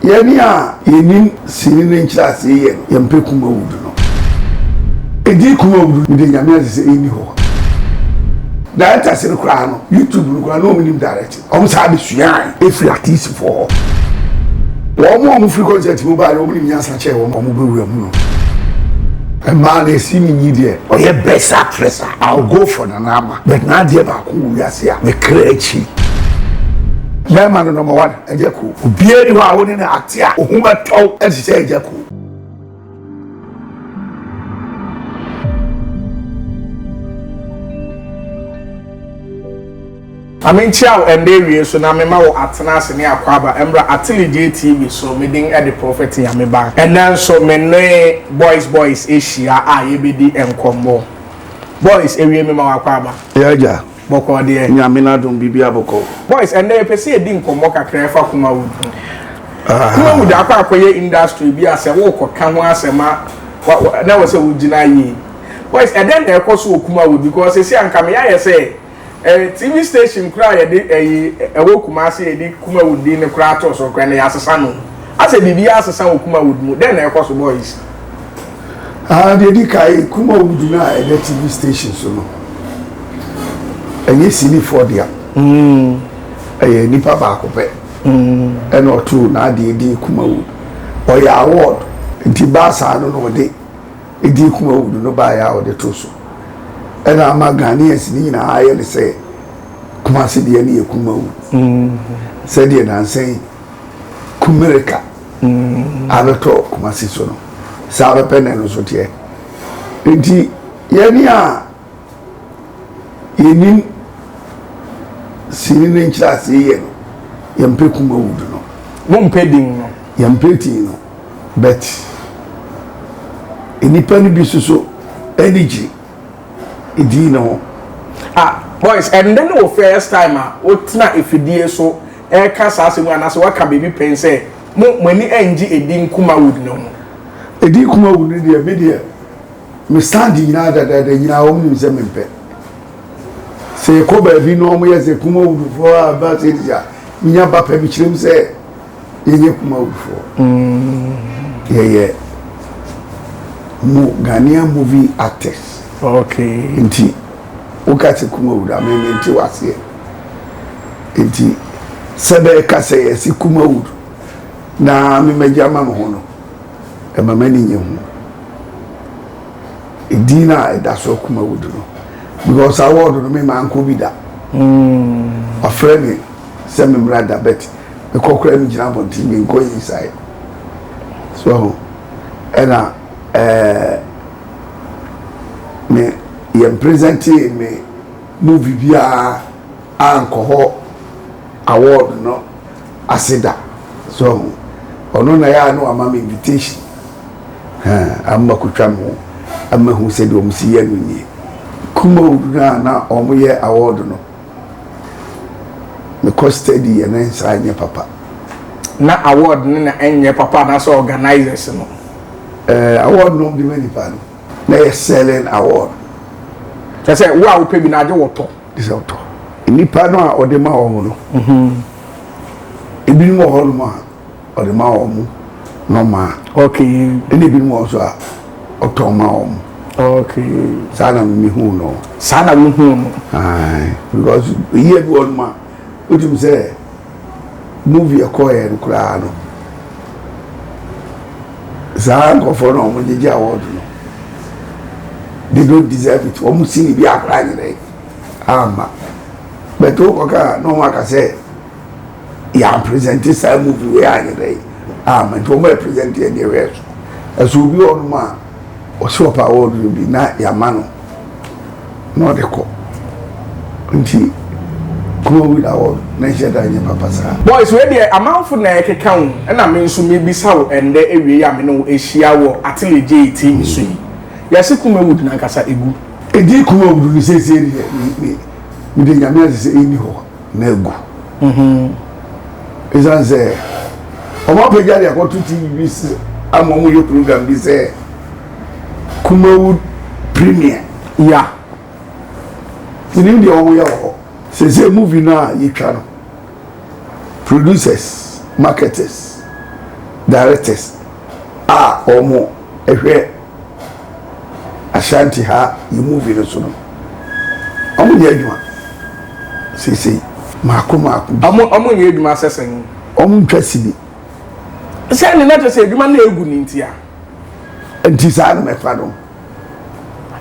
Yɛn a yɛnnim sini no nkyerɛasee yɛ no yɛmpɛ Kumawudu no. Edin Kumawudu mede Nyame agye sɛ enni hɔ. Directors no koraa no YouTube no koraa na wɔn nim direct. Wɔn saa de suae efiri artistfoɔ hɔ. Wɔn a wɔn firi concert mu baeɛ no wɔn nim nyansa kyɛn wɔn a wɔn bɛ wura mu no. Mmaa no Asimi Nyi deɛ ɔyɛ best actress a I will go for Nana Ama but n'adeɛ baako wɔ wiase a me kra kyi. Bɛɛma no number one. Agya Ko. Obiara nni hɔ a wo ne no ate a ohu bɛtɔ wo te sɛ Agya Ko. Ma menkyia wo ɛnnɛ awiei so na mema wo Atenase ne Akwaaba mmra Atelegye TV so. Me din de Prophet Nyame Ba. Ɛnnɛ nso me ne Boys Boys ahyia a yɛbɛdi nkɔmmɔ. Boys, awiei mema wo Akwaaba. Yea, Agya. Bɔkɔɔ deɛ. Nyame n'adom biribiara bɔkɔɔ. Boys ɛnɛ yɛpɛ sɛ yɛdi nkɔmmɔ kakra ɛfa Kumawood ho. Ah. Kumawood akɔ akɔyɛ industry bi a sɛ wokɔ ka ho asɛm a wa wa na wɔ sɛ wogyina yie. Boys ɛdɛn na ɛkɔ so wɔ Kumawood because sɛsi a nka meyayɛ sɛ eh, TV station koraa yɛde ɛyi ɛwɔ Kumasi yɛde Kumawood din no koraa too so koraa na yɛasesa no. Asɛ biribiara asesa wɔ Kumawood mu. Dɛn na ɛkɔ so boys? Aa deɛ di kan Kumawu gyina a ɛnɛ TV station so no ɛnyɛ sinifoɔ dea ɛyɛ nipa baako pɛ ɛna ɔtoo n'adeɛ din Kumawu ɔyɛ award nti baa saa no na ɔde edin Kumawu no no baeɛ a ɔde too so ɛna ama Ghanaians no nyinaa ayɛ ne sɛ Kumasi deɛ no yɛ Kumawu sɛdeɛ nansa yi Kumirika mm. abɛtɔ Kumasi so no saa bɛpɛ na ɛno nso teɛ nti yɛne a yɛnim sini no nkyerɛ aseɛ yɛ no yɛmpɛ kuma wudu no mompɛ din no yɛmpɛ din no but nnipa no bi soso ani gye din no ho ah boys ɛndɛ ne wo first time a wotena afidie so reka saa asɛm yi anaasɛ waka biribi pɛn sɛ, Mo, mo ani rennye Edin Kumawud no ho? Edin Kumawud no deɛ, me deɛ, me stand nyinaa dadaada nyinaa, wɔn nim sɛ mempɛ. Sɛ yɛkɔ baabi na wɔn yɛ sɛ Kumawudfoɔ a ba sɛ ɛdi a, menya ba pɛ, mekyerɛ mu sɛ yɛnyɛ Kumawudfoɔ. Mm. Yɛyɛ mo Ghanaian movie actors. Okay. Nti. Wo ka sɛ Kumawuda me me nte waseɛ nti sɛ bɛ ka sɛ yɛ se Kumawud na me ma gya ma me ho no ɛma ma ni nye ho edin na ɛda so Kumawud no because award no me ma nko bi da mm. wafrɛ me sɛ me mmra da bet me kɔ kora me gyina abɔnten me nkɔ yi sae so ɛna ɛɛ. Eh, me yɛn presɛntee me movie biara ankɔ hɔ award no ase da so ho ɔno na yɛ a na wama me invitation hɛn ama kotwa me ho ama hu sɛdeɛ wɔn si yɛ no nie kumaw no a na wɔn yɛ award no. Me kɔ study yɛ na nsa anyɛ papa. Na award no na ɛnyɛ papa anaasɛ organisers no? Ɛɛ award no ɔmde ma nipa no na yɛ selling award. Kyɛ sɛ wo a wopɛ bi no agye wɔtɔ. Gye sɛ wotɔ. Nipa no a ɔde ma wɔn no. Ebinom wɔ hɔ nom a. ɔde ma wɔn mo nɔmaa okay ɛna ebi mu wɔn nso a ɔtɔn ma wɔn okay saa na mi hu no saa na mi hu no ayi because eyi ebi wɔn ma o ti mi sɛ movie ɛkɔ yɛ no koraa no saa nkɔfoɔ na wɔn gyegye award no they don't deserve it wɔn si ni bi akora nyere ama bɛtɛ o kɔ kaa na wɔn aka sɛ. yɛn presente saa movie wei anyɛ dɛ ah ma nti wɔn yɛ presente yɛn deɛ wɛɛ so ɛso obi wɔ nom a ɔsɛ ɔpɛ award no bi na yɛama no na ɔde kɔ nti kuro win award na nhyɛ da nyɛ papa saa. boys wei deɛ amanfo na ɛkeka wo ɛna me nso mebisa wo ɛndɛ awie yi a me ne wo ahyia wɔ atele gyee tv so yi yɛse kumawud nankasa egu. Edi kumawud no seesei deɛ me me mede nyame ase sɛ ɛnni hɔ. no agu. Ɛsiane sɛ wɔapagya de akɔto TV bi so ama wɔyɛ program bi sɛ Kumawood Premier. Ya. Menim deɛ wɔyɛ wɔ hɔ. Sɛ sɛ movie no a yɛtwa no, producers, marketers, directors a wɔhwɛ Ashanti ha yi movie no so no, ɔmo nyɛ adwuma seesei mako mako bi. Ɔmo ɔmo nyɛ adwuma sɛ sɛn? Ɔmo ntwa sini. Sɛ ne na kyɛ sɛ adwuma no egu ne nti a. Nti saa na mɛfa no.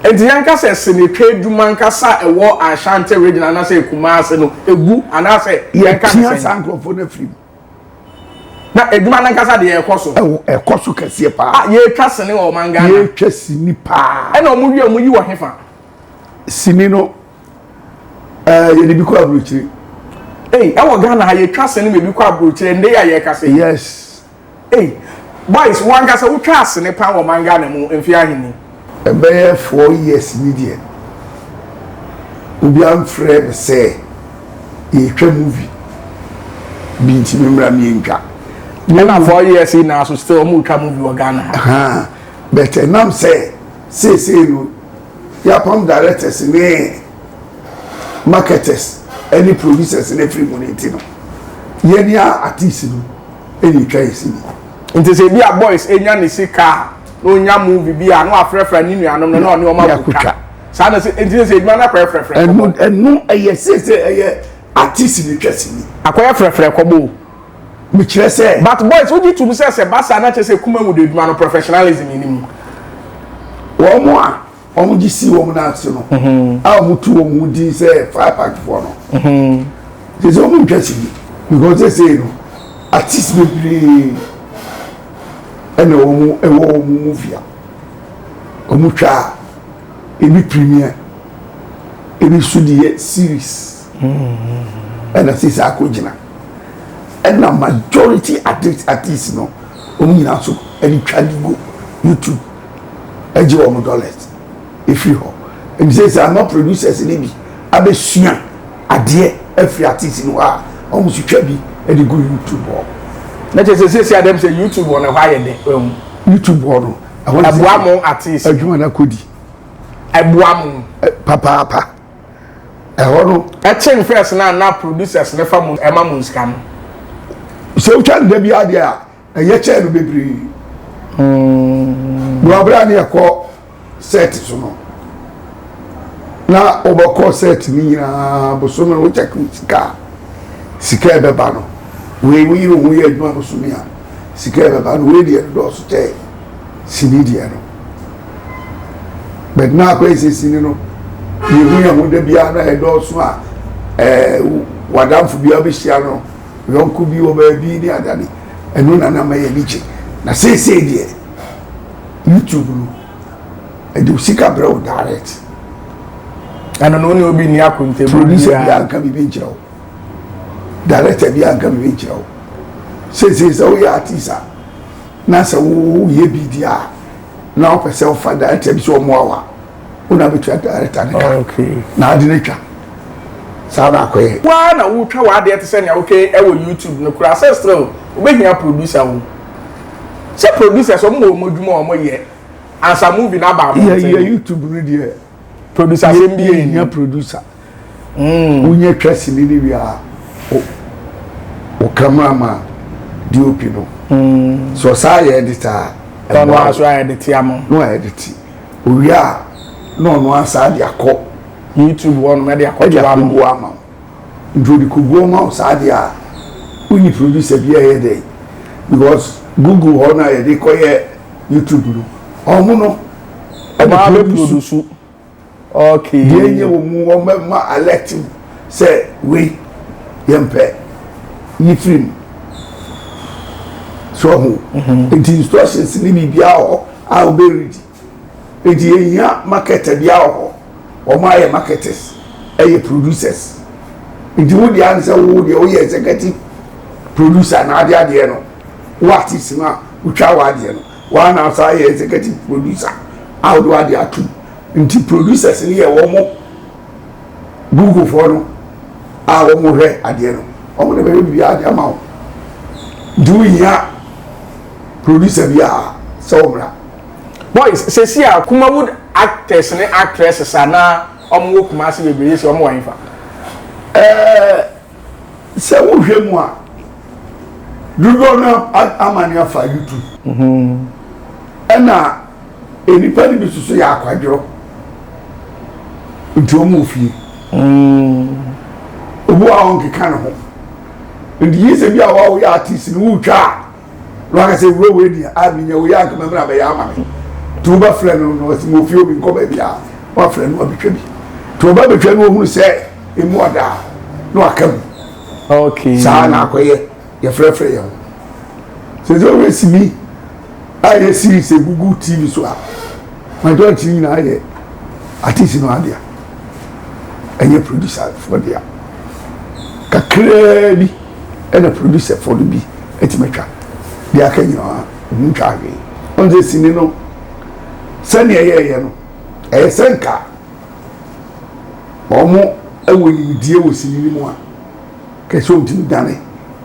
Nti yɛnka sɛ sinetwa adwuma ankasa a ɛwɔ Ashanti region anaasɛ Kumasi no egu anaasɛ yɛnka ne sɛn? Yɛpia saa nkorɔfoɔ no afiri mu. Na adwuma no ankasa deɛ ɛkɔ so. Ɛwɔ ɛkɔ so kɛseɛ paa. A yɛtwa sini wɔ ɔman Ghana. Yɛtwa sini paa. Ɛna wɔn wie wɔn yi wɔ hefa. Sini no ɛɛ yɛde bi kɔ aburokyire. Ee ɛwɔ Ghana ha yɛtwa sini ma ebi kɔ aburokyire ndɛ yi a yɛkasa yi. Yes. Ei boys wo ankasa wo twaa sene paa wɔ ɔman Ghana mu mfeɛ ahe ni? Ɛbɛyɛ four years ni deɛ obiara mfrɛɛ me sɛ yɛretwa movie bi nti me mmra me ntwa. Ɛna four years yi nyinaa so still wɔn retwa movie wɔ Ghana ha? Haa but ɛnam sɛ seesei no yɛapam directors ne marketers ɛne producers no afiri mu no nti no yɛn a artists no. Ɛretwa ɛsi ni. Nti sɛ ebi a boys enya ne sika a na onya movie bi a na wafrɛfrɛ ne nuanom no na ɔne wɔn akotwa. Saa na sɛ nti sɛ edwuma no akɔyɛ frɛfrɛ kɔbɔ. Ɛno ɛyɛ sɛ sɛ ɛyɛ artist ne twa sini. Akɔyɛ frɛfrɛ kɔbɔ o. Mekyerɛ sɛ. But boys wogye tom sɛ sɛ ba saa na kyerɛ sɛ Kumawu de adwuma no professionalism nni mu. Wɔn a. Wɔgye sii wɔn nan ase no, a wɔtoo wɔn ho din sɛ Fire Packfoɔ no, gye sɛ wɔntwa sini. Because seesei no, artists bebree na wɔwɔ wɔn movie a wɔtwa a ebi premiere, ebi nso de yɛ series ɛna seesei akɔgyina. Ɛna majority artists no, wɔn nyinaa nso de twa de gu YouTube. gye wɔn dollars firi hɔ nti sɛsɛ ama producers no bi abɛsua adeɛ afiri artist no hɔ a wɔn nso twa bi de gu youtube hɔ. na kyerɛ sɛ sɛsɛ adɛm sɛ youtube hɔ no ɛhɔ ayɛ dɛ ɛhu. youtube hɔ no ɛhɔ no ɛboa mo artist adwuma no akɔdi ɛboa mo papaapa ɛhɔ no ɛkyen first na na producers no fa mu ɛma mo nsika no sɛ wotwa nda bi adeɛ a ɛyɛ kyɛɛ no bebree mm. na ɔberɛ a ne yɛkɔ set so no na wɔbɛkɔ set no nyinaa bosome no wokyɛ sika a sika ɛbɛba no wei woyi ne ho yɛ adwuma bosome a sika ɛbɛba no wei deɛ dɔɔso kyɛ sini deɛ no bɛt na akɔ ɛsɛ sini no yɛhu yɛ ho da biara na ɛdɔɔso a ɛɛ wadamfo biara bɛhyia no Yɔnko bi wɔ baabi ne ada ne ɛno na na ama yɛn ani gye. Na seesei deɛ YouTube no ɛde wo sika brɛ wo direct. Ɛno no wo ne obi nni akontabuo biara. Producer biara nka biribi nkyerɛ wo. Director biara nka biribi nkyerɛ wo. Seesei sɛ woyɛ artist a na sɛ woyɛ bi deɛ a na wopɛ sɛ wofa director bi sɛ ɔmmoa wo a. wo na bɛtua director ne ka na ade no twa saa na akɔyɛ waa na wotwa w'adeɛ te sɛ nea woka ɛwɔ youtube no koraa sɛ still wobɛhia producer wo sɛ producers ɔmo wɔ ɔmo adwuma ɔmo yɛ ansa movie no aba abɔnten yɛ youtube no deɛ producer asɛm bi yɛ hia producer Mm. Wonya twa sini no wie a, wo cameraman DOP no. Mm. So saa yɛ edit a. Ɛno a so ayɛ de ti ama. No ayɛ de ti. Owie a na ɔno asa de akɔ. YouTube hɔ no mɛ de akɔ to ama. Ɛde akɔ ama. Nti ɔde kɔ gu ama saa de a wonyi producer bi a ɛyɛ dɛ because Google hɔ no a yɛde kɔ yɛ YouTube no ɔmo no ɛde produce. Okay. Deɛ nyɛ wɔ mu wɔn bɛ ma alert mu sɛ wei yɛn mpɛ yi firi mu. So ho. Mhm. Nti instructions ni biribi ahɔ a wɔn bɛ read. Nti yɛn hia marketer bi ahɔ. Wɔn ayɛ marketers ɛyɛ producers. Nti wo deɛ ansɛ wo deɛ woyɛ executive producer na ade adeɛ no wo artist no a wotwa wɔ adeɛ no. Woa na asan yɛ executive producer a wode wade atom nti producers no yɛ wɔn Google foɔ no a wɔn hwɛ adeɛ no wɔn na bɛyɛ biribiara de ama wo nti wohia producer bi a sɛ wɔmmra. Boys sɛsi a Kumawood actors ne actresses a na wɔn wɔ Kumasi bebree sɛ wɔn wɔ hefa? Ɛɛ. Sɛ wohwɛ mu a, dodoɔ no ara amane afa YouTube. Ɛna nnipa no bi nso so yɛ akwadworɔ. Nti wɔn wɔ fie. Obi wɔ hɔ a ɔnkeka ne ho. Nti gye sɛ bi a woyɛ artist no wotwa a. na waka sɛ wura wei deɛ a menya wei anka mɛmɛ na bɛyɛ ama me nti wobɛfrɛ no na ɔsi mofie obi nkɔ baabi a wafrɛ no abɛtwa bi nti ɔba bɛtwa no ɔhunu sɛ ɛmu ɔda a na waka mu okay. saa na akɔyɛ yɛfrɛfrɛ yɛn ho sɛ sɛ wobɛ simi a yɛ series ɛgugu tv so a majority nyinaa yɛ artist no adea ɛnyɛ producer foɔ dea kakraa bi ɛna producer foɔ no bi atumi atwa deɛ aka nyinaa ɔmo ntwa ahwee ɔn sɛ sini no sɛnea ɛyɛɛyɛ no ɛyɛ sɛ nka ɔmo ɛwɔ nimdeɛ wɔ sini no mu a kɛse ɔmo tumi dane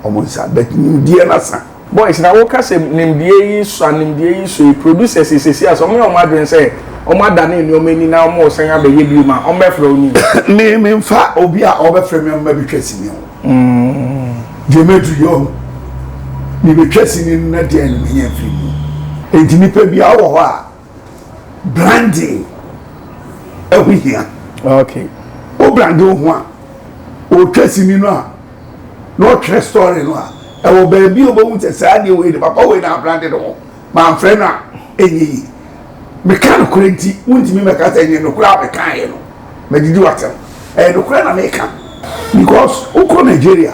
ɔmo nsa bɛt nimdeɛ no asa. Boys na wo ka sɛ nimdeɛ yi sua nimdeɛ yi sua yi producers yi sɛsi asɛ ɔmo yɛ ɔmo adwene sɛ ɔmo adane nneɛma ani na ɔmo resan abɛ yɛ biom a ɔmo bɛ frɛ wo ni. Me me nfa obi a ɔbɛ frɛ me a mma bɛ twa sini ho deɛ mɛ du yɛ ɔho me bɛ twa sini no na deɛn na mɛ nya firi mu enti nipa biara wɔ hɔ a branding ɛho hia okay o brand wo ho a ɔtwa sini no a na ɔtwerɛ story no a ɛwɔ baabi a ɔbɛhu sɛ saa deɛ wei de papa wei na abrande no ho mamfrɛ no a ɛnyɛ yi meka nokorɛ nti wontumi mɛka sɛ ɛnyɛ nokorɛ a mekaeɛ no madidi watam ɛyɛ nokorɛ na meka because wokɔ nigeria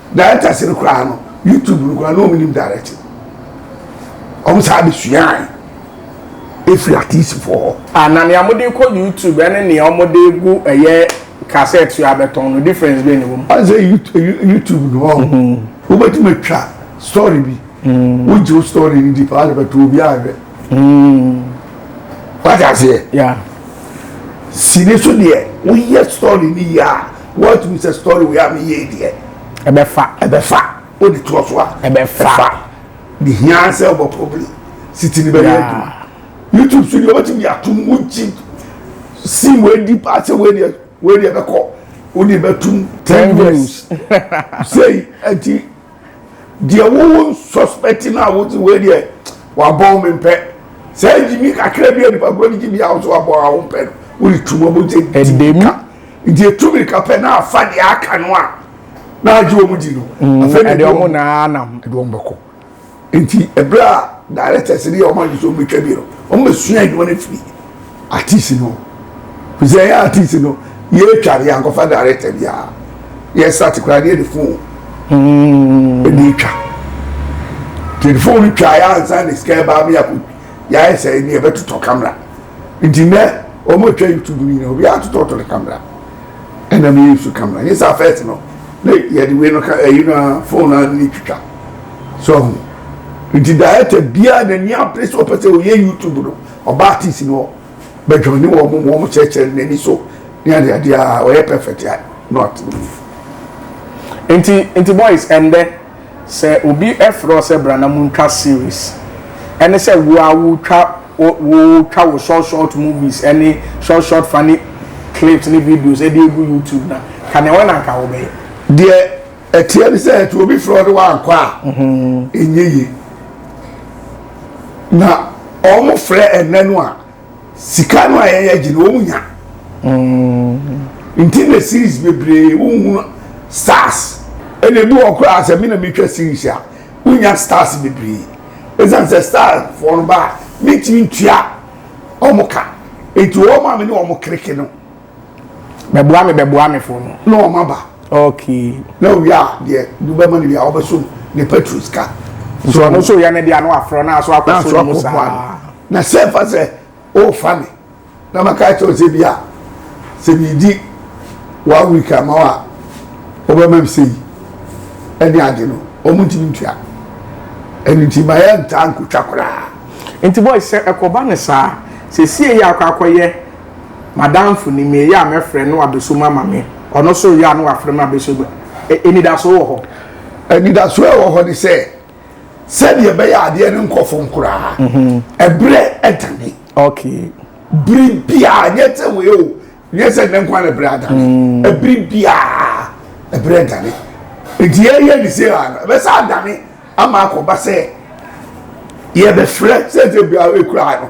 Directors no koraa no YouTube no koraa na wɔn nim direct. Wɔn saa bɛ suae efiri atiisifoɔ hɔ. Ah na nea wɔn de kɔ YouTube ɛne nea wɔn de gu ɛyɛ cassette so abɛtɔn no difference bɛ na wɔn. Wɔn sɛ YouTube no wɔn mhm. wɔbɛtumi atwa story bi mhm. wogye wo story no di paa de bɛtɔ obi ahwɛ. Mhm. Wate aseɛ? Yeah. Sini so deɛ woyɛ story ni yie a. Woatumi sɛ story wei a me yɛ yi deɛ. Ɛbɛ fa. Ɛbɛ fa. O de toɔ so a. Ɛbɛ fa. Ɛfa. Me hia sɛ ɔbɔ probably. Siti ni bɛ yɛ adwuma. YouTube so deɛ ɔbɛtumi de atum wo gyi. Sim wei di paa sɛ wei deɛ wei deɛ bɛkɔ. Wo deɛ bɛtum. Ten views. Sei ɛti Deɛ wo wo suspect no a wo se wei deɛ wabɔn me mpɛ saa ngyimi kakra bi a nipa korɔ de gye bia wo se wabɔn a wo mpɛ no wo de tu wɔn gye gye mirika nti etu mirika pɛ na afa deɛ aka no a na agye wɔn di no. Ɛfɛ na ɛde wɔn na anam ɛde wɔn bɛkɔ. Nti ɛberɛ a directors no yɛ wɔn adwene sɛ wɔbɛtwa bi no, wɔbɛsua adwuma no afiri artist no hɔ. Ɛfiri sɛ yɛn artist no, yɛretwa no yɛankɔfa director biara. Yɛsate koraa no yɛde phone ɛna hmm. ɛtwa. Nti yɛde phone no twa yɛ ansa na sika ɛbaa ma yɛakɔ yɛayɛ sɛ ɛne yɛbɛtotɔ camera. Nti nɛ wɔn atwa YouTube no nyinaa obiara atotɔtɔ ne camera. Ɛna me use camera nye sa first no ne yɛde wei no ka ɛyi no a phone a ne twitwa so ahu nti director biara na ni apere sɛ ɔpɛ sɛ ɔyɛ YouTube no ɔba artist no bɛ join ne wɔn mu wɔn kyerɛkyerɛ ne n'ani so ne ade ade a ɔyɛ perfect a not nti nti boys ɛndɛ. Sɛ obi frɛ wo sɛ bra na montwa series, ɛne sɛ wo ara wotwa wotwa wo short short movies ne short short funny clips ne videos de agu YouTube na ka nea wɔn anka wobɛyɛ. Deɛ ɛteɛ ne sɛ ɛte obi frɛ wo ne wankɔ a ɛnyɛ yie. Na wɔfrɛ ɛnnɛ no a. sika no a yɛn yɛ gye no wɔn nya mm. nti na series bebree wohunu stars ɛna ebi wɔ koraa sɛ mi na mi twa series a wonya stars bebree esan sɛ star foɔ no ba mi ti ntua wɔn ka nti wɔn a mi ne wɔn kirikiri no. bɛboa me bɛboa me fo no. na wɔn aba. okay. na owie a deɛ de bɛma no wie a wɔbɛsom ne petro sika. nti ɔno nso yɛ ne deɛ ano afrɛ no aso akɔso no mu saa. na sɛ fa sɛ ɔrefa me na maka kyerɛ sɛ bi a sɛ biridi one week ama wo a wɔbɛma me sɛ yi ɛne ade no wɔn ntumi ntua ɛno nti ma yɛ ntaa nkotwa koraa. nti boy sɛ ɛkɔba no saa sɛ sie yɛ akɔ akɔyɛ M'adamfo nim me, ɛyɛ a mɛfrɛ no na wabeso mu ama me, ɔno nso reyɛ a na wafrɛ me abeso mu. Anidaso wɔ hɔ. Anidaso a ɛwɔ hɔ ne sɛ, sɛdeɛ ɛbɛyɛ a adeɛ no nkɔ fam koraa, ɛberɛ adane. Okay. Bere biara, nyɛ sɛ wei o, nyɛ sɛ nnɛ nko ara na ɛberɛ adane. Ɛbere biara, ɛberɛ adane. Nti yɛreyɛ ne sei ara no, ɛbɛsan adane ama akɔba sɛ yɛbɛfrɛ, sɛdeɛ ɛkura no.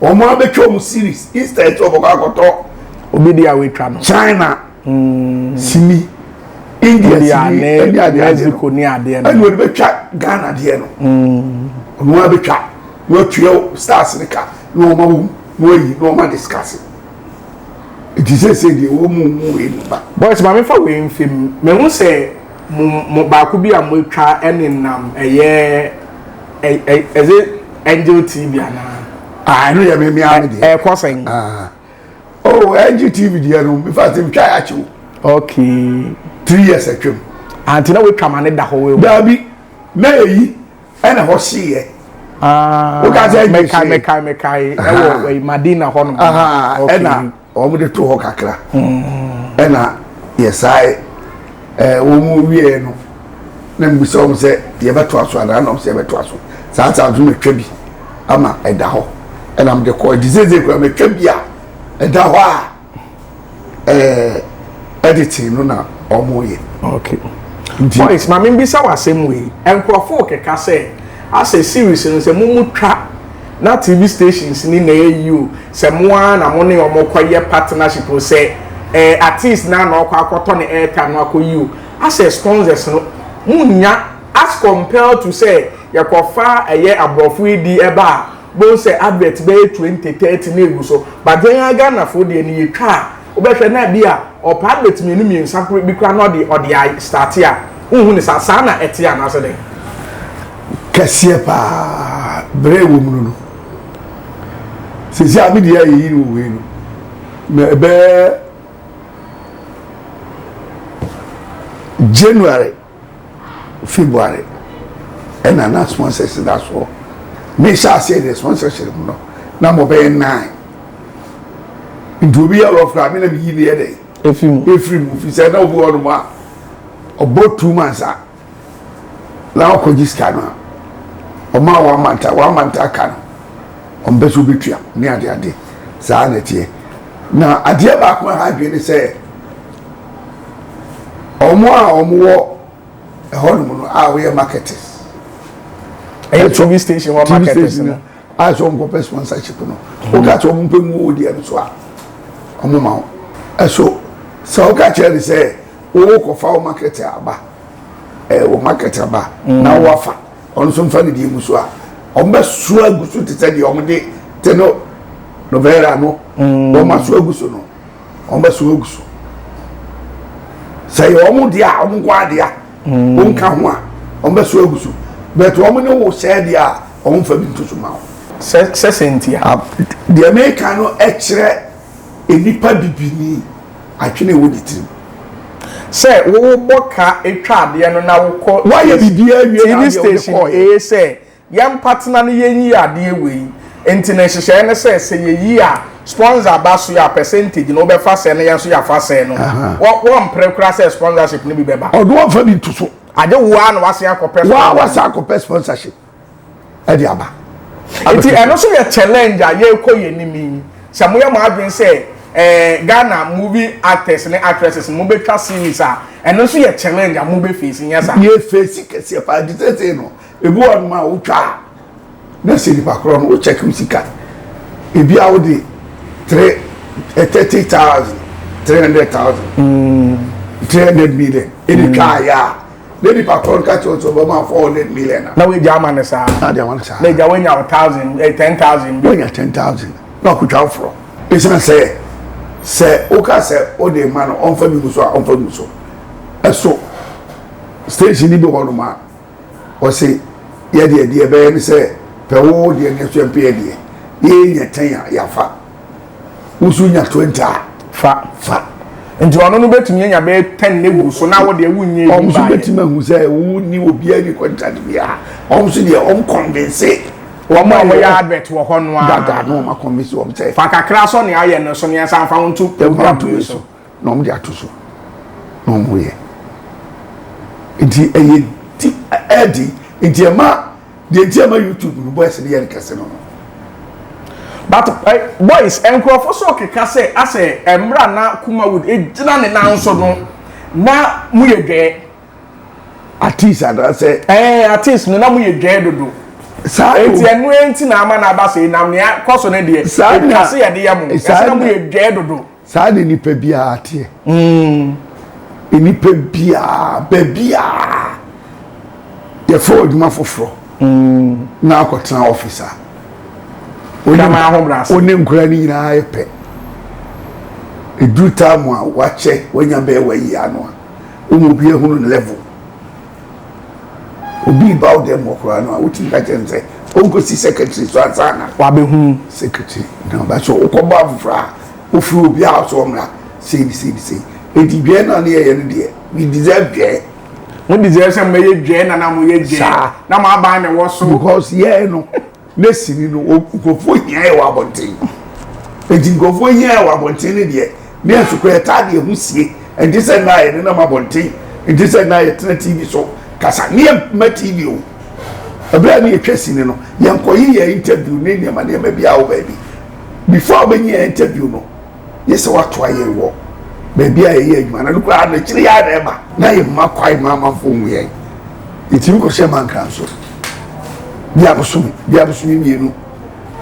Wɔn abɛtwa wɔn series instead sɛ wɔbɛkɔ akɔtɔ. Obi di a wɔatwa no. China mm. sini India sini ɛne adeɛ Mexico ne adeɛ no ɛna wɔde bɛtwa Ghana deɛ no. Mm. Wɔn abɛtwa na wɔatua stars ne ka na wɔn awo na wɔayi na wɔn adiscase. Eti sɛ sɛ deɛ wɔn mu mu wei mu ba. Boys maame fa wei nfim mehu sɛ mo mo baako bi a mo atwa ɛne nam ɛyɛ. ɛ ɛ ɛdze angel tv anaa. ah ɛno yɛ mɛmi ami deɛ. ɛɛ kɔ sɛn. ah oh angel tv deɛ no nfa ti ntwa yɛ akyɛw. ok. three years atwam. anti na watwa ma ne da hɔ wɔ. daabi na eyi ɛna hɔ si yɛ. aa ah, mɛkae mɛkae mɛkae ɛwɔ madina hɔ nom. ɛna. Wɔde too hɔ kakra na yɛsae. Wɔwieeɛ no na mebisa wɔn sɛ yɛbɛtoa so anaa na wɔse yɛbɛtoa so. Saa saa nso metwa bi ama ɛda hɔ na mede kɔe. Nti seesei koraa matwa bi a ɛda hɔ a editing no na wɔyɛ. Okay. Nti. Boys, ma mebisa wo asɛm wei. Nkurɔfo rekeka sɛ asɛ series no sɛ momutwa na TV stations ni na ɛyi o. Sɛ mo ara na mo ne wɔn rekɔ yɛ partnership o, sɛ ɛɛ artist no ara na ɔkɔ akɔtɔ ne airtime no akɔ yi o, asɛ sponsors no, mo nnya as compare to sɛ yɛ kɔ fa ɛyɛ abrɔfo edi ɛba a, bohu sɛ advert bɛyɛ twenty, thirty na egu so, but yɛn ara Ghanafo deɛ no yɛ twa a, wo bɛ hwɛ na ebi a ɔpɛ advert mmienu mmiensa koro bi koraa na ɔde ɔde a start a, wo nhu ne saa, saa na ɛteɛ anaa sɛ dɛn? Kɛseɛ paa, brɛ ɛwɔ mu no no. sisi a mi deɛ yɛ yi no wei no na ɛbɛyɛ january february ɛna na sponsors da soɔ mi hyɛ aseɛ deɛ sponsorship no na mo bɛyɛ nine nti obi yɛ rough na mi na mi yi ne yɛ dɛ efiri mu efiri mu fi sɛ na obi wɔ nom a ɔbɔ two months a. na ɔkɔgye sika no a, wɔn a wɔn mantaa wɔn mantaa ka no wɔn bɛ so bɛtua ne ade ade saa na ɛteɛ na adeɛ baako a ha adwene ne sɛ wɔn a wɔn wɔ ɛhɔnom no a wɔyɛ marketers ɛyɛ tv station hɔ marketers no a sɛ wɔn kɔpɛ sponsorship no wɔn ka sɛ wɔn mpɛ mu wɔ deɛ no so a wɔn ma wɔn ɛso sɛ wɔn ka kyerɛ ne sɛ. Wo kɔ fa wo market aba eh wo market aba na wo afa ɔno nso nfa ne deɛ ngu so a wɔn bɛ so agu so te sɛ deɛ wɔn de te no novera no mm. wɔn aso agu so no wɔn bɛ so agu so sɛ yɛ wɔn deɛ a wɔn nkɔ adeɛ a mm. wɔn nka ho a wɔn bɛ so agu so bɛt wɔn ne wo sɛ deɛ a wɔn nfa bi nto so ma wɔn. sɛ sɛ sɛ ntia. deɛ mɛka no ɛkyerɛ nnipa bibini. Adwene a ɛwɔ ne tirim sɛ wobɔ ka twa adeɛ no na wokɔ TV station ee sɛ yɛmpatena no yɛnyi adeɛ wei nti no nhyehyɛɛ ne sɛ sɛ yɛyi a sponsor ba so a percentage no wobɛfa sɛ na yɛn nso yɛafa sɛ no wɔmpere koraa sɛ sponsorship no bi bɛba. Ɔno ɔmfa bi nto so. Agye woaa na wasen akɔpɛ sponsor. Woaa wasan akɔpɛ sponsorship. de aba. Nti ɛno nso yɛ challenge a yɛrekɔ yɛn anim yi. Sɛ moyɛ mo adwene sɛ ɛɛ Ghana movie actors ne actresses mobɛtwa series a, ɛno nso yɛ challenge a mobɛfeesi, nyɛ saa? Yɛfeesi kɛseɛ paa. Nti seesei no, ebi wɔ hɔnom a wotwa a, na sɛ nipa korɔ no, wokyɛke wo sika. Ebi a wode three eh, thirty thousand, three hundred thousand, three hundred million ɛna twaeɛ a, Ne nipa koro nka kyerɛ sɛ ɔbɛma four hundred million a. na wagya ama no saa Na deɛ wɔn saa. na agya wanya wo thousand eh, ten thousand bi Wɔnya ten thousand na ɔkotwa aforɔ. Esiane sɛ sɛ woka sɛ wode rema no ɔmfa bi ngu so a ɔmfa ngu so. Ɛso station no bi wɔ hɔnom a wɔse yɛdeɛ deɛ ɛbɛyɛ ne sɛ pɛ wo deɛ nanso yɛmpɛ yɛdeɛ. Yɛnya ten a yɛafa. wosu nya twenty a fa fa nti ɔno no bɛtumi anya bɛyɛ ten ne gu so na wo deɛ wonyɛ bi baayɛ ɔmo so bɛtumi ahu sɛ wo ni obiara ni contract biara ɔmo so deɛ ɔmo convince wɔn a wɔyɛ advert wɔ hɔ no a dada na wɔn akɔnvinsi wɔn sɛ fa kakra sɔ nea ayɛ no so nea nsa nfa wɔn to program bi so na wɔn de ato so na wɔn yɛ nti ɛyɛ di ɛdi nti ɛma. Deɛ nti ama YouTube no boys no yɛ no kɛse no no. But eh, boys nkurɔfo so keka sɛ asɛ ɛmmra na Kumawood gyina ne nan so no na mo yɛ dwɛɛ. Artist anaasɛ. Ɛɛ eh, artist no na mo yɛ dwɛɛ dodo. Saa eti ɛno enti na ama na aba sɛ na nea kɔ so no deɛ. Saa na ɛka se yɛde yɛ mo. Ɛsɛ na mo yɛ dwɛɛ dodo. Saa na nnipa biara teɛ. Nnipa biara, baabiara yɛfrɛ wo adwuma foforɔ na akɔtena office a, wo ne nkwadaa no nyinaa yɛ pɛ. Ɛduru time a wakyɛ, wanya bɛyɛ one year no a, wo ma obiara hunu ne level. Obi reba wo dan mu hɔ koraa no a, wotumi ka kyerɛ no sɛ onkosi secretary so ansa na wabehu secretary. Na ɔba so wokɔbɔ afoforo a, wofrɛ obi a ɔsɛ ɔmmra sei ne sei ne sei. Enti dwɛɛ no a na yɛyɛ no deɛ, we deserve dwɛɛ. Mo deserve sɛ mobɛyɛ dwɛɛ na na moyɛ dwɛɛ. Saa. Na mo aban na ɛwɔ so. Because yɛn no. Ne sini no, nkurɔfoɔ hia yɛ wɔ abɔnten. Enti nkurɔfoɔ hia yɛ wɔ abɔnten no deɛ, ne nso kora yɛtaa de yɛn ho sie. Ɛnte sɛ nna a yɛnenam abɔnten, ɛnte sɛ nna a yɛtena TV so kasa. Ne yɛmma TV o. Ɛberɛ a ne yɛtwa sini no, yɛnkɔye yɛn interview ne nneɛma nneɛma biara wɔ baabi. Before wobɛnya interview no, gye sɛ watoa yɛn wɔ baabi a yɛyɛ adwuma no. Ɛno koraa no, akyiri yi ara na ɛba na yɛmma kwae ma amanfoɔ hu yɛn. Yɛtumi kɔhyɛ Mankra nso. Bia bosome, bia bosome mmienu,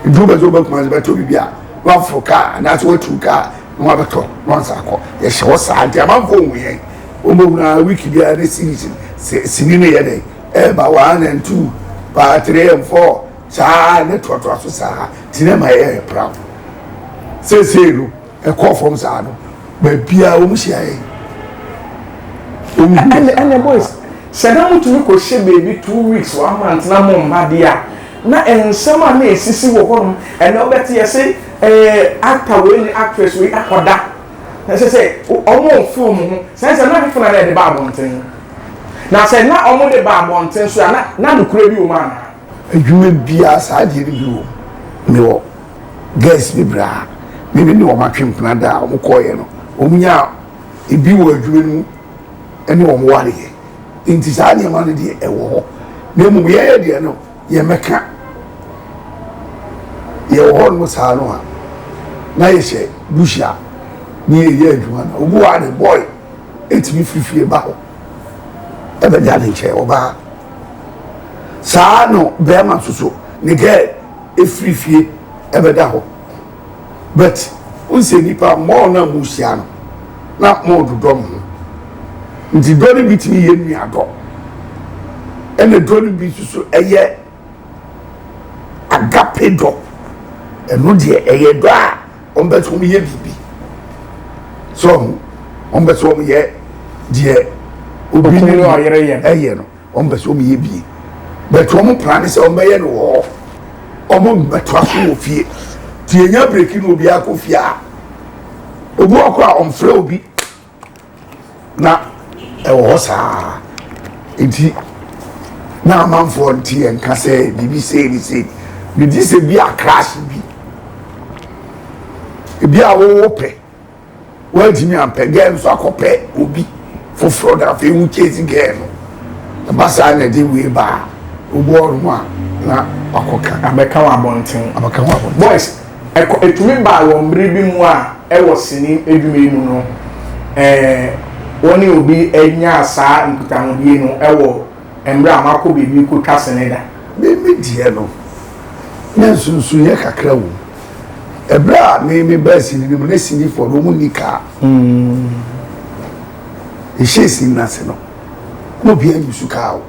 duru bɛdze woba Kumase bɛtɔ biribi a, na waforo kaa anaasɛ watu kaa na wabɛtɔ na wansa akɔ. Yɛhyɛ hɔ saa nti amanfoɔ hu yɛn. Wɔbɛhunu ara wiki biara ne series sini no yɛ dɛn ɛreba one and two, part three and four. saa ara na toatoa so saa ara nti na ɛma yɛyɛ proud seesei no ɛkɔɔ fam saa no baabiara wɔn hyia yɛn ɛnɛ ɛnɛ boys sɛ na motumi kɔ hyɛ baabi two weeks one month na mo mma deɛ a na nsɛm a na esisi wɔ hɔ nom ɛnɛ ɔbɛte yɛ se ɛɛ actor wei ne actress wei akɔda na sɛ sɛ wɔn a ɔfo wɔn ho sɛ sɛ na fefo na na ɛde ba abɔnten na sɛ na wɔn de ba abɔnten so a na na nokura bi wɔ mu anaa. Adwuma biara saa deɛ no bi wom mewɔ girls no bi a me ne ne wɔn atwe mpena da a wɔn kɔɔeɛ no wɔn nyaa ebi wɔ adwuma no mu ɛne wɔn wareɛ nti saa nneɛma no deɛ ɛwɔ hɔ na mmom yɛyɛ deɛ no yɛn mɛka yɛwɔ hɔ nom saa no a na yɛhyɛ bush a ne yɛyɛ adwuma no obi wɔ a ne boy ɛtumi firi fie ba hɔ ɛbɛda ne nkyɛn ɔbaa saa no bɛrima nso so ne girl ɛfiri fie ɛbɛda hɔ but n sɛ nnipa mɔɔ no a mu hyia no na mɔɔ dodɔ mo ho nti dɔ no bi tumi yɛ nnuadɔ ɛna dɔ no bi nso so ɛyɛ agape dɔ ɛno deɛ ɛyɛ dɔ a Wɔn pɛ sɛ wɔn yɛ biribi, so ɔho, wɔn pɛ sɛ wɔn yɛ deɛ obi ne ɔyere yɛ ɛyɛ no, wɔn pɛ sɛ wɔn yɛ bie, but wɔn plan ne sɛ wɔn bɛyɛ no wɔ hɔ, wɔn bɛtoa so wɔ fie, ti yɛnya breki na obiara kɔ fie a, obi wɔ kɔ a wɔn frɛ obi. na ɛwɔ hɔ saa nti na amanfoɔ nti yɛn ka sɛ biribi sei ne sei megye sɛ bi a crash bi ebi a wɔwɔ pɛ wɔntumi ampɛ gɛɛ nso akɔpɛ obi foforɔ na afei wo chase gɛɛ no ɛba saa na ɛde wei baa wobɔ ɔnom a na wakɔka abɛka wɔ abɔnten abɛka wɔ abɔnten boys Ɛkɔ ɛtumi baa wɔ mmere bi mu a ɛwɔ sini adwuma yi mu no, ɛɛ, wo ne obi nyaa saa nkutahodie no wɔ mmere a moakɔ baabi rekɔtwa sini da. Me, me deɛ no, na nsunsunyɛ kakra wɔ mu. Ɛberɛ a me, me baa sini no mu, na sinifoɔ no, wɔn nni kaa. Yɛhyɛɛ sini no ase no, na obiara nyi su kaa o.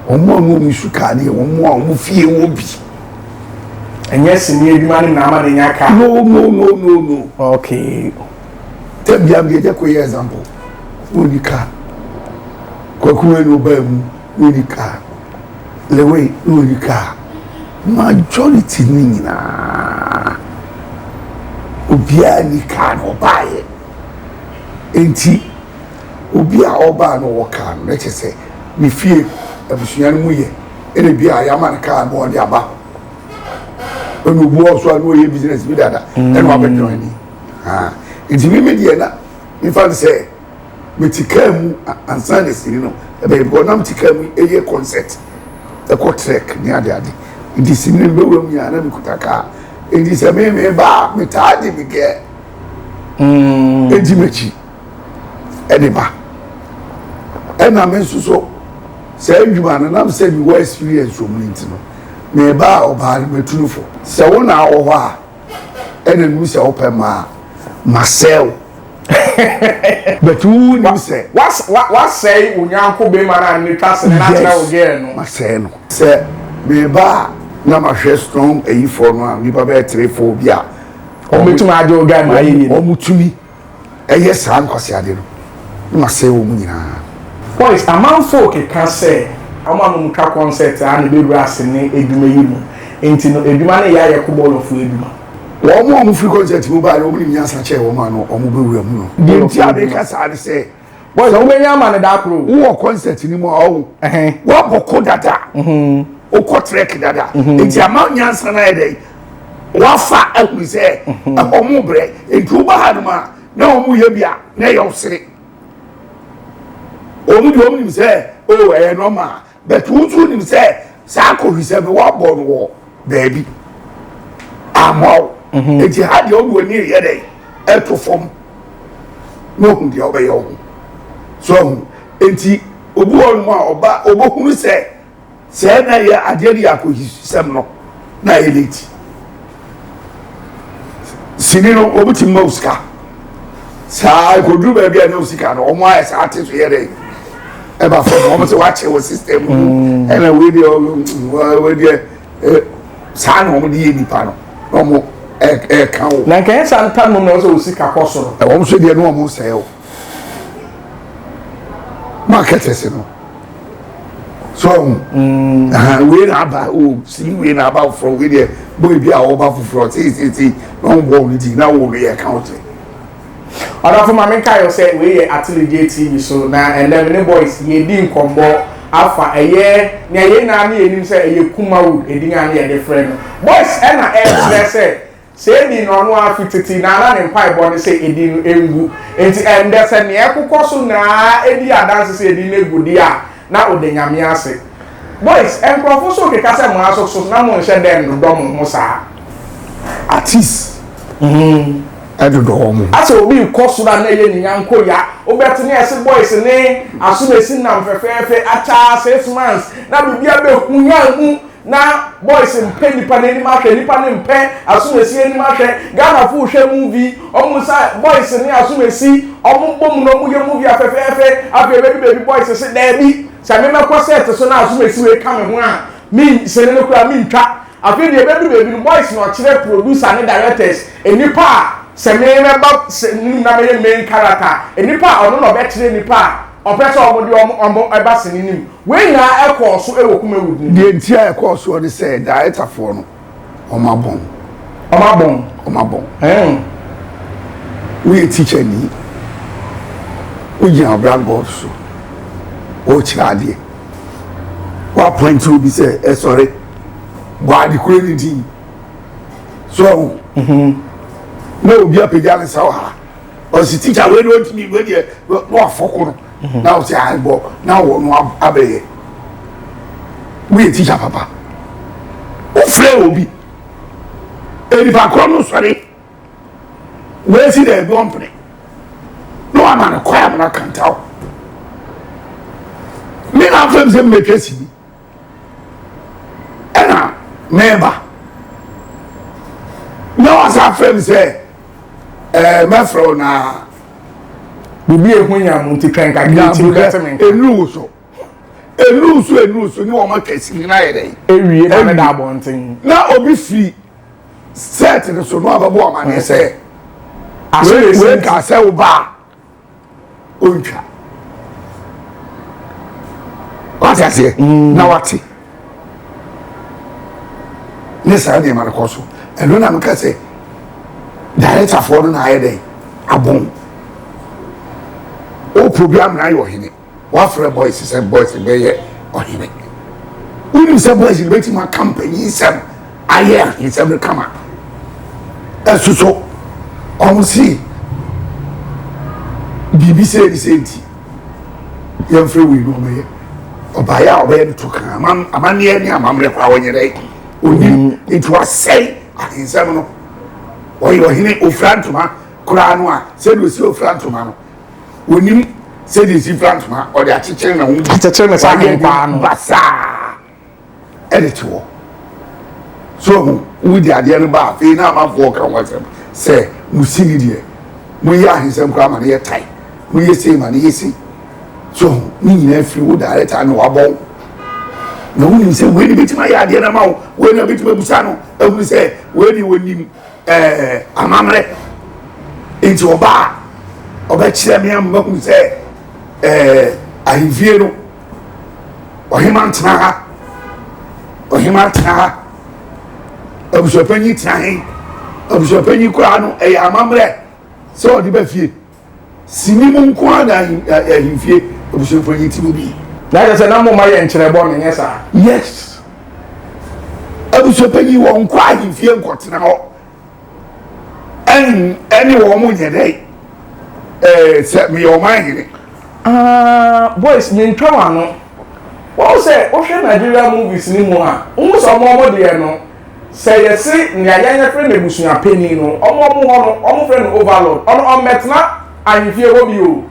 Wɔn a wɔwɔ nsu kaa deɛ wɔn a wɔn fie wɔ bi. Ɛnyɛ sini adwuma no na ama ne nya kaa. No no no no no. Okay. Tɛbia mi ɛjɛ ko yɛ example. Wɔn ni kaa. Kwaku ɛna ɔba emu wɔn ni kaa. Lewe na wɔn ni kaa. Majority ni nyinaa obiara ni kaa na ɔbaayɛ. Enti. Obi a ɔbaa no wɔ car no, na kyerɛ sɛ ne fie abusua no mu yɛ ɛna bi a yɛama no car ma ɔde aba hɔ. Ɛna obi wɔ so a na ɔyɛ business bi dada ɛna wabɛ join ni. Nti mi mi deɛ na nfa no sɛ mete car mu ansa na sini no ɛbɛyɛ because na mete car mu ɛyɛ concert ɛkɔ trek ne ade ade nti sini no bɛwura mu yɛ a na mekuta car nti sɛ me me ba a metaa de me gɛ ɛdi m'akyi. ɛde ba ɛna me nso so saa adwuma no nam sɛ mewɔ experience wɔ mu no nti no meba a ɔbaa no matunufo sɛ wo na awɔ hɔ a ɛna nu sɛ wopɛ maa masɛe wo but wo nim sɛ wasɛe wo nyanko bɛma no a ne twa sene na kyerɛ wo gɛɛ no masɛe no sɛ meba a na mahwɛ strong ayifoɔ no a nnipa bɛyɛ three four bi a ɔmɛtumi agye wo guy ma ayɛ yie ɔmotumi ɛyɛ saa nkwaseade no na wasɛe wɔn nyinaa. Point, Amanfoɔ keka sɛ wɔn a wɔn twa kɔnsɛt ara na ɛbɛwura ase ne adwuma yi mu nti no adwuma no yɛ ayɛ kobɔɔlɔfoɔ adwuma. Wɔn a wɔfiri kɔnsɛt mu baeɛ no wɔn nim nyansa kyɛn wɔn a no wɔn bɛwura mu no. Deɛ nti a meka saa ne sɛ. Boys a wobɛnya ama no daa koro. Wowɔ concert ni mu a ɔwo. Woabɔ ko dada. Wokɔ trek dada. Nti ama nyansa no ayɛ dɛn? Wafa ahunu sɛ ɛhɔ mo brɛ. Nti woba ha nom a na wɔn yɛ bi a na ɛyɛ wo sere. Wɔn deɛ wɔn nim sɛ o ɛyɛ normal. but wo nso wonim sɛ saa akɔhwisɛm no woabɔ no wɔ baabi amma wo mhm. nti ha deɛ wode w'ani reyɛ dɛn ɛto fam na ohu deɛ wobɛyɛ wo ho so ahu nti obi wɔ nom a ɔba ɔbɛhunu sɛ sɛ na yɛ adeɛ no yɛ akɔhwisɛm no na yɛ late sini no wɔn ti mma osika saa ekoduru baabi a na osika no wɔn ayɛ saa ate so yɛ dɛ ɛba fam wɔn sɛ wɔakyɛ wɔ system mu mm. ɛna wei deɛ wei deɛ eh, saa na wɔn de yɛ nipa no na wɔn ɛɛka wo. na nkɛyɛ saa ntam no na ɔsɛ osika kɔ soro. ɛwɔn so deɛ no wɔn sɛɛ o. marketers no so ɔmo mm. ahan wei na aba o si wei na aba foforɔ wei deɛ boy bi a ɔba foforɔ tiititi na ɔmo bɔ ɔmo ti na wɔn yɛ count. ɔdɔfo maame nka yɛ sɛ wei yɛ atelegye tv so na ɛnna mi ne boys yɛ di nkɔmbɔ afa ɛyɛ nea yɛn nyinaa ne yɛn nim sɛ ɛyɛ kumawood edin a ne yɛde frɛ no boys ɛna ɛkyerɛ sɛ Sɛ edii no ɔno ara fi tete na na ne mpaebɔ ne sɛ edin no ngu. Enti ɛnnɛ, sɛ nea ɛkokɔ so nyinaa di adanse sɛ edin no agu de a, na ɔda Nyame ase. Boys, nkurɔfo nso rekeka sɛ mo ara nso so na monhyɛ da nnodɔ mo ho saa. Artists hmm, dodɔ wɔn ho. Asɛ obi rekɔ soro a na ɛyɛ ne nyanko ya. Wobɛte ne ɛse boys ne Asomasi nam fɛfɛɛfɛ, akyaa, six months, na biribiara bɛhunyan mu. Na boys mpɛ nipa nanim ahwɛ nipa no mpɛ asomasi anim ahwɛ Ghana fo hwɛ movie ɔmo sa boys ne asomasi ɔmo bom na ɔmo yɛ movie a fɛfɛɛfɛ afei ɛbɛdu baabi boys se daabi sɛ me mɛkɔ set so na asomasi wei ka me ho a me sene no koraa me ntwa afei deɛ ɛbɛdu baabi no boys na ɔkyerɛ producer ne directors nipa a sɛ me mɛba se no mu na mɛyɛ main character nipa a ɔno na ɔbɛkyerɛ nipa a Ɔpɛ sɛ wɔde wɔn ba sene no mu. Wei nyinaa kɔɔ so wɔ Kumawood no mu. Deɛ nti a ɛkɔɔ soɔ ne sɛ Daetafoɔ no, wɔabɔn. Wɔabɔn? Wɔabɔn. Ɛɛn. Woyɛ tikyani, wogyina blackboard so, worekyerɛ adeɛ. Woapɔinte obi sɛ ɛsɔre bɔ ade koro no din. So, na obi apagya ne nsa wɔ ha. ɔsi tikya wei de ɔntumi wei deɛ na wafɔ ko no mhm. na ɔsi aibɔ na wɔ no abɛyɛ woyɛ tikya papa wofrɛ obi nipa korɔ no sɔre wɔasi dɛ ɛbi ɔmpene na wama no kɔ amena kantaw me na afɛm sɛ mmetwa si bi ɛna mɛba na wasa afrɛ me sɛ ɛɛ mɛfrɛ wo na biribi ehu yam nti twɛn kakra nti bɛte me nka enu wo so enu nso enu nso ne wɔn akɛse nyinaa yɛ dɛ ewie na ne da abɔnten na obi firi sɛɛt no so na wabɛbɔ ɔmaneɛ sɛ ahyɛ wei ka sɛ wo baa ɔntwa wate aseɛ mm. na wate ne saa nneɛma no kɔ so ɛno na meka sɛ directorfoɔ no na ayɛ dɛn abɔn o program na ayɛ ɔhene Wafrɛ boys sɛ boys bɛyɛ ɔhene. Wonim sɛ boys no bɛtumi aka mpanyin nsɛm ayɛ ahensɛm no kama. Ɛso so, wɔn si biribi sɛ ne sɛ nti yɛmfrɛ wei no ɔmɛyɛ ɔbaeɛ a ɔbɛyɛ no to kan amanneɛ ne amammerɛ koraa wɔnyɛ dɛ onim nti wasɛe ahensɛm no ɔyɛ ɔhene ofira ntoma koraa no a sɛdeɛ ɔsi ofira ntoma no onim sɛdeɛ ɛsi fira ntoma ɔde akyekyere na ho akyekyere ne saa nkwaa no basaa ɛde te hɔ so ho wodi adeɛ no ba afei na amanfoɔ ka ho asɛm sɛ mo si ne deɛ moyɛ ahensɛm koraa ma no yɛ tae moyɛ sei ma no yɛ sei so ho ne nyinaa firi wo director na wabɔ wo na wonim sɛ wei ne bɛtumi ayɛ adeɛ no ma wo wei na bɛtumi abusa no ahunu sɛ wei deɛ wɔnim Ɛɛ, amammerɛ nti ɔba a, ɔbɛkyerɛ me ama mahu sɛ ɛɛ, ahemfie no, ɔhema ntena ha, ɔhema tena ha, abusuapanyin tena he, abusuapanyin koraa no, ɛyɛ amammerɛ sɛ ɔde ba fie. Sini mu nko ara na ahen a ahemfie abusuafua yɛ ti mu bi. Na kyerɛ sɛ na momma yɛnkyerɛ bɔne, ɛnyɛ saa? Yes. Abusuapanyin, wɔnkɔ ahemfie nkɔtena hɔ ɛn ne wɔn nyɛ dɛ ɛɛ sɛ meyɛ ɔman hene. Aah boys mentwa w'ano. Wahu sɛ wohwɛ Nigeria movies no mu a, wohu sɛ wɔn wɔn deɛ no Sɛ yɛse nea yɛn yɛfre no abusua panin no, ɔmo a ɔmo hɔ no, ɔmo frɛ no Overlord, ɔno ɔmmɛtena ahemfie hɔ bio.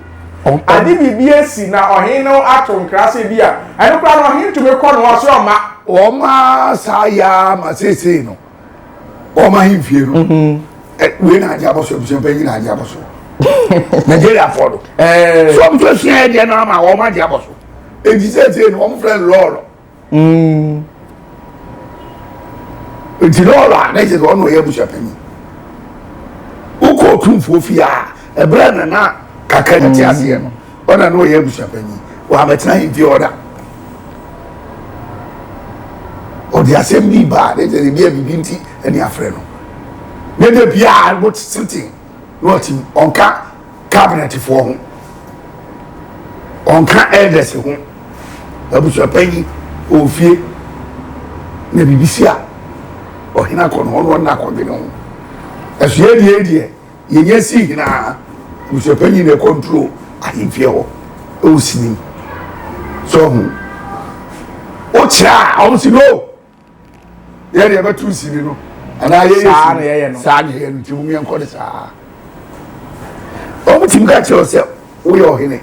Agye biribi asi na ɔhene no ato nkrase ebia. Ɛno koraa no, ɔhene tumi kɔ no, ɔse ɔmma. Ɔmma saa yɛ ara ma seesei no, ɔmma ahemfie no. Wei na agye abɔso, abusua panin na agye abɔso. Nigeriafoɔ no, so ɔmo so asua yɛ deɛ no ara ma ɔmma agye abɔso. Enti seesei no, ɔmo frɛ no Lɔɔlɔ. Mm. nti na ɔlɔ a na ɛkyɛ sɛ ɔna ɔyɛ abusuapanyi wokɔ ɔtumfoɔ fie a ɛberɛ na na kaka na te mm. aseɛ no ɔna na ɔyɛ abusuapanyi wɔabɛtena yɛ fie ɔda ɔde asɛm bi baa na ɛkyɛ sɛ bia biribi nti ɛne afrɛ no ne da biaa wotete na ɔte mu ɔnka kabinɛtefoɔ ho ɔnka elders ho abusuapanyin wɔ fie na biribi si a ɔhene akɔ no ɔno ɔna akɔdwene ho ɛso yɛ deɛ deɛ yɛnyɛ si hinaa abusuapanyin na ɛkɔnturo ahemfie hɔ ɛwɔ sini so ɔho wokyerɛ a ɔmo si no yɛde yɛbɛto sini no anaa yɛyɛ saa na yɛyɛ no saa na yɛyɛ no nti mu yɛn kɔ de saa wɔn ti mu ka kyerɛ sɛ woyɛ ɔhene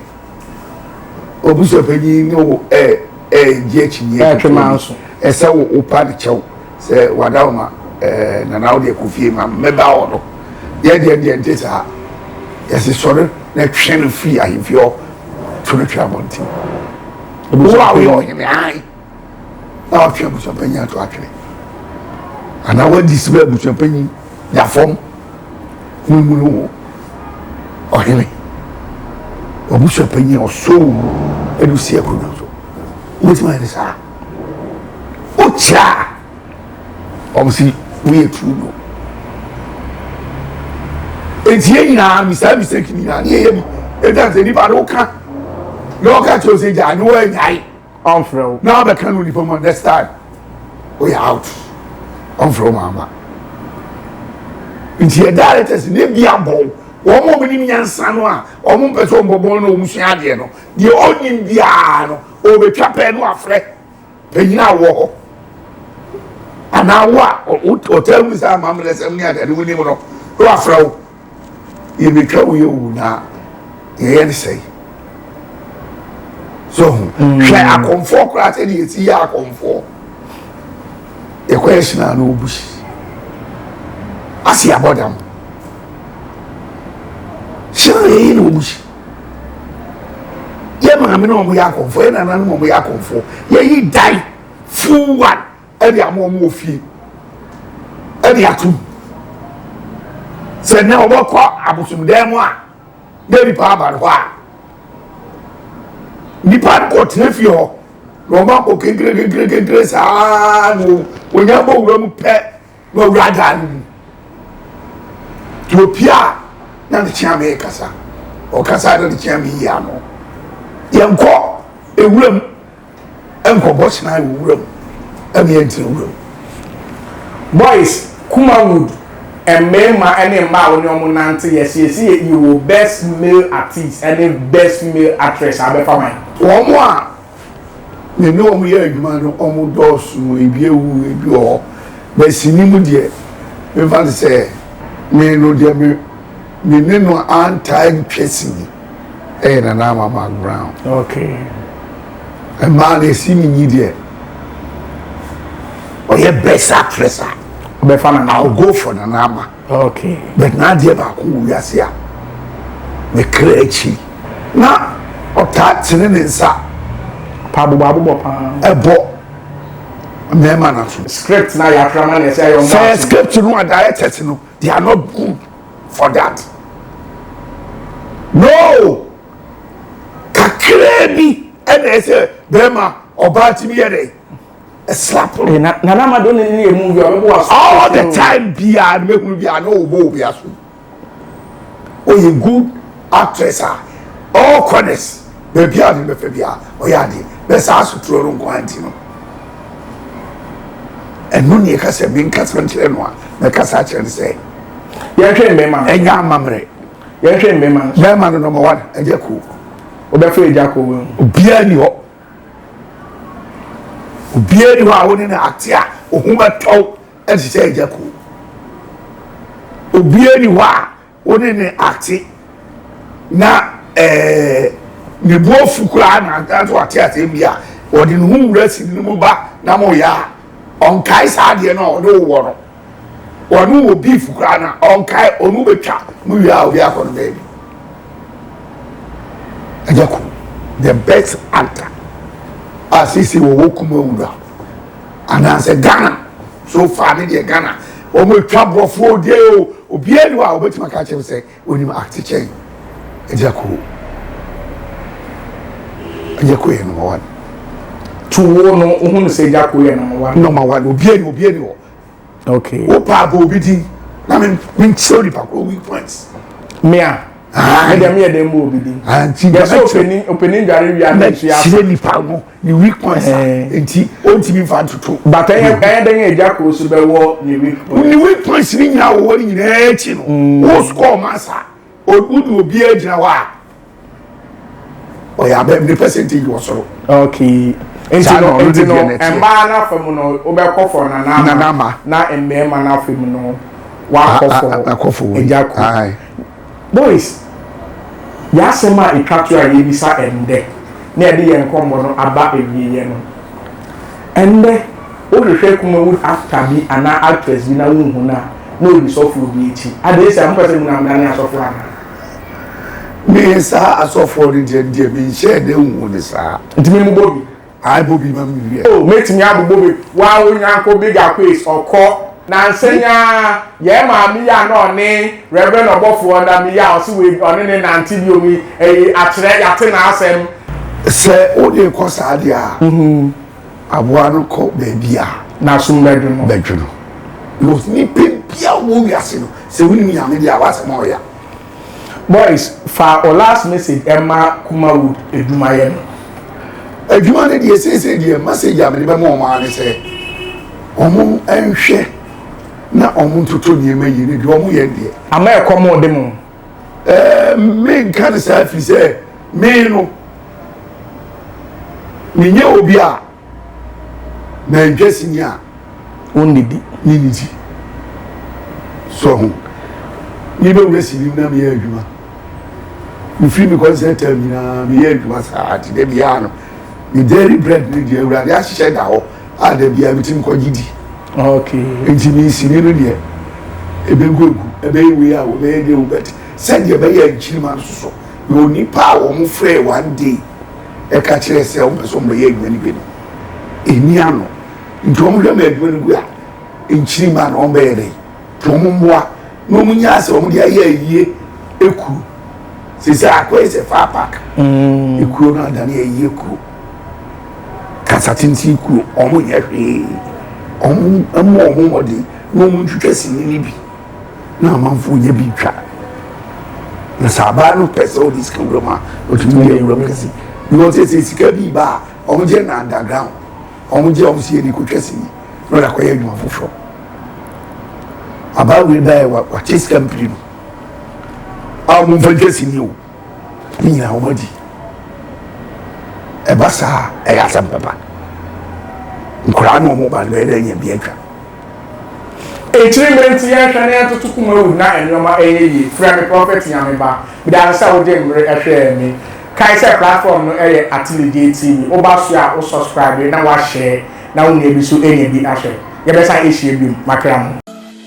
obusuapanyin ne wo ɛɛ ɛɛ gye akyinyɛ ɛtwe maa so ɛsɛ wo wo pa ne kyɛw sɛ wada wo ma ɛɛ nana wo deɛ kɔ fie ma mmɛba wɔ no yɛ deɛ deɛ nte saa yɛsi sɔre na twɛn no firi ahemfie hɔ to no twɛ abɔnten wo a woyɛ ɔhene ae. na watwe abusuapanyin ato atwene anaa wadi sima abusuapanyin nya fam ne mu no wɔ ɔhene abusuapanyin a ɔsoo ɛdu si akonnwa so wobɛtumi ayɛ ne saa wokyɛ a ɔmo si woyɛ turu no eti yɛ nyinaa misa misa kini nyinaa ne yɛyɛ bi ɛdan sɛ nipa no ka na ɔka kyerɛ sɛ gya ne wɔanyae ɔnfrɛ wo. Na wabɛka no nipa mu a next time woyɛ out ɔnfrɛ wo ma aba nti yɛ directors ne bi abɔw wɔn a wɔn nim nyansa no a wɔn mpɛ sɛ wɔn bɔbɔn na wɔn sua adeɛ no deɛ ɔnim biara no ɔbɛtwa pɛɛ no afrɛ panyin a wɔ hɔ anaa wo a ɔtaa mu sɛ amammerɛ sɛm ne adeɛ no wonim no na wafrɛ wo yɛbɛtwa wo yɛ o na yɛyɛ ne sɛe so ho hmm. hwɛ akɔmfoɔ koraa sɛ deɛ ɛsi yɛ akɔmfoɔ yɛkɔ yɛ hyena no ɔbusi ase abɔdam hyena yɛyi na ɔbusi yɛ maame na ɔmo yɛ akɔmfoɔ yɛ nananom ɔmo yɛ akɔmfoɔ yɛyi dan full one ɛde ama wɔn wɔ fie ɛde atum sɛ nɛ wɔbɛkɔ abosomdan mu a na nipa aba no hɔ a nipa no kɔ tena fie hɔ na wɔn abɔ kenkere kenkere kenkere saa na wɔnya bɔ wura mu pɛ. W'awura daa no mu. Nti opie a na ne kyeame rekasa. Ɔkasa na ne kyeame yi ano. Yɛnkɔ ewuram nkɔbɔ kyenae wɔ wuram ɛne yɛntena wuram. Boys, Kumawood, mmarima ne mmaa a wo ne wɔn nante yɛsiesie yɛ wɔ best male artiste ne best female actress a bɛfa man. Wɔn a. Me ne wɔn yɛɛ adwuma no, wɔn dɔɔso, ebi awu, ebi wɔ hɔ. But sini mu deɛ, memfa no sɛ me no deɛ me me ne no antaa ntwa sini. Ɛyɛ Nana Ama background. Okay. Mmaa no esi ne nyi deɛ, ɔyɛ best actress a. Bɛfa Nana Ama. I'll go for Nana Ama. Okay. But na adeɛ baako wɔ wiase a me kra akyi na ɔtaa tene ne nsa. Pa abobɔ abobɔ paa. Ɛbɔ mmarima no so. Script na yɛ akra ma na ɛsɛ ayɛ ɔmo aso. Sɛ script no a directors no they are not good for that. No kakraa bi ɛna ɛsɛ bɛrima ɔbaa tumi yɛ dɛ. slap eh, na nana amado ne ne emu bi ɔbɛbɔ aso all the time biara ne mehunu biara na ɔbɔ obi aso ɔyɛ good actress a all corners baabi a ne bɛfɛ bi a ɔyɛ adeɛ bɛ saa asotoro no nko anti no ɛno ne ɛka sɛ menkasa nkyerɛ no a mɛkasa akyerɛ no sɛ yɛhwɛ mmɛma no ɛnyɛ amammerɛ yɛhwɛ mmɛma no bɛma no nɔmɔ wan ɛgya kuo wobɛfrɛ ɛgya kuo wɔ mu obiara ni hɔ Obiara nni hɔ a wo ne no ate a wo ho bɛtɔ wo te sɛ Agya Koo. Obiara nni hɔ a wo ne no ate na ne bo afu koraa na nanso wate asɛm bi a ɔde ne ho wura sini no mu ba na moyɛ a, ɔnkae saa adeɛ no a ɔne wo wɔ no. Ɔno wɔ beef koraa na ɔnkae ɔno bɛtwa no wie a obi akɔ no baabi. Ɛnyɛ ko the best actor a sisi wɔwɔ kuma wura anaasɛ Ghana so far ne deɛ Ghana wɔn atwa borɔfoɔ deɛ o obiara ni hɔ a wɔbɛtumi aka kyerɛ sɛ onim acte kyɛn ɛnyɛ ko ɛnyɛ ko yɛ number one. Tuwo no ohun sɛ ɛnyɛ ko yɛ number one. Number one obiara ni obiara ni hɔ. okay wopa abɔ obi din na me me nkyerɛ nipa koro weak points. mea ɛdeɛ meyɛ dɛn bɔ obi din yɛsɛ ɔpɛni ɔpɛni ndware wia na nsu yɛ afa nipa no ne weak points eh. nti ɔntumi nfa ntoto bata yɛ ɛyɛ dɛn yɛ gya koro so bɛwɔ ne weak points ne weak points ne nyinaa wɔwɔ ne nyinaa akyi no mm. wo score ma saa Wode obiara gyina hɔ a ɔyɛ abam ne percentage wɔ soro. Okay. Nti no nti no mmaa no afa mu no wobɛkɔ fɔ nanama na mmarima no afa mu no wakɔ fɔ agya ko. Boys, yɛ asɛm a ɛtwa to a yɛbisa ɛndɛ na yɛde yɛn nkɔmmɔ no aba awieɛ no ɛndɛ. Wohwehwɛ Kumawood actor bi anaa actress bi na wonhu no a, na odi sɔfoɔ bi akyi. Adɛn nti a? Mopɛ sɛ muna mudane asɔfoɔ anaa? Me, saa asɔfoɔ no deɛ, deɛ menhyɛɛ da nhuu no saa. Nti me mobɔ bi? Ae bɔ bi ma me hwɛ. Oh, mɛtumi abobɔ bi. Waa wo nyanko Big Aquace, ɔkɔ. Nansa yi ara, yɛn maame yi a na ɔne Reverend ɔbɔfoɔ nam yi a ɔse wei, ɔne no nnante biom yi, ɛyi, akyerɛ, yɛate n'asɛm. Sɛ wodeekɔ saa deɛ a, Aboa no kɔ baabi a. N'asom bɛdwo no. Bɛdwo no. Because nipa biara ɔwɔ wiase no, sɛ wonim Nyame deɛ a, w'asɛm a ɔya. Boys, fa wo last message ɛma Kumawood adwumayɛ no. Adwuma no deɛ, seesei deɛ message a mede bɛma wɔn ara ne sɛ, wɔn nhwɛ na wɔn ntoto nneɛma yie, na deɛ wɔn yɛ no deɛ. Ama ɛkɔm rede mo. ɛɛ menka ne saa firi sɛ me no menyɛ obi a mantwa sini a ɔnnidi ne ne ti so ho mebɛwura sini na meyɛ adwuma mefiri me kɔnsɛ tam nyinaa meyɛ adwuma saa te dɛ biara no medairy bread ne deɛ awurade ahyehyɛ da hɔ a da biara mi ti mi kɔ gye di nti mi nsini no deɛ ebe gu egu ebe yɛ wei a wɔn bɛyɛ deɛ wɔn bɛte sɛdeɛ ɛbɛyɛ nkyirima no soso na onipa a wɔn frɛ one day ɛka kyerɛ sɛ wɔn pɛ sɛ wɔn bɛyɛ adwuma no bi no ɛni ano nti wɔn hwɛ ma adwuma no gu a nkyirima no wɔn bɛyɛ dɛ nti wɔn mmoa na wɔn nyɛ asɛ wɔn de ayɛ ayie ekuru sisi akɔyɛ sɛ far park mm. ekuro no adane ayie kuro. kasa tsentsen kuro, ɔmo nyɛ hwee, ɔmo mmɔ ɔmo mmɔden na ɔmo ntwitwa sini no bi na amanfoɔ nyɛ bi ntwa. Na sɛ abaa no pɛ sɛ ɔde sika wuram a, ɔtumi yɛ wuram kɛse. Because ɛsɛ sika bi ba a, ɔmo gye na underground, ɔmo gye ɔmo sɛ yɛde kɔtwa sini na ɔde akɔyɛ adwuma foforɔ. Abaa wei baeɛ wakyɛ sika mprenu a ɔmo mfa ntwa sini o. Ne nyinaa wɔadi. Ɛba saa a, ɛyɛ asɛm papa. Nkoraa ne wɔn ba no bɛyɛ dɛ anya bi atwa. Akyiri mmerɛ nti yɛnhwɛ na yɛntoto kuma wu na nneɛma nyɛ yie. Frɛ me Prophet Nyame Ba. Meda ase sɛ wode mmere hwɛɛ me. Kae sɛ platform no yɛ Atelegye TV. Woba so a wo subscribe na woashare na wo nua bi nso anya bi ahwɛ. Yɛbɛsan ahyia bio. Makra mo.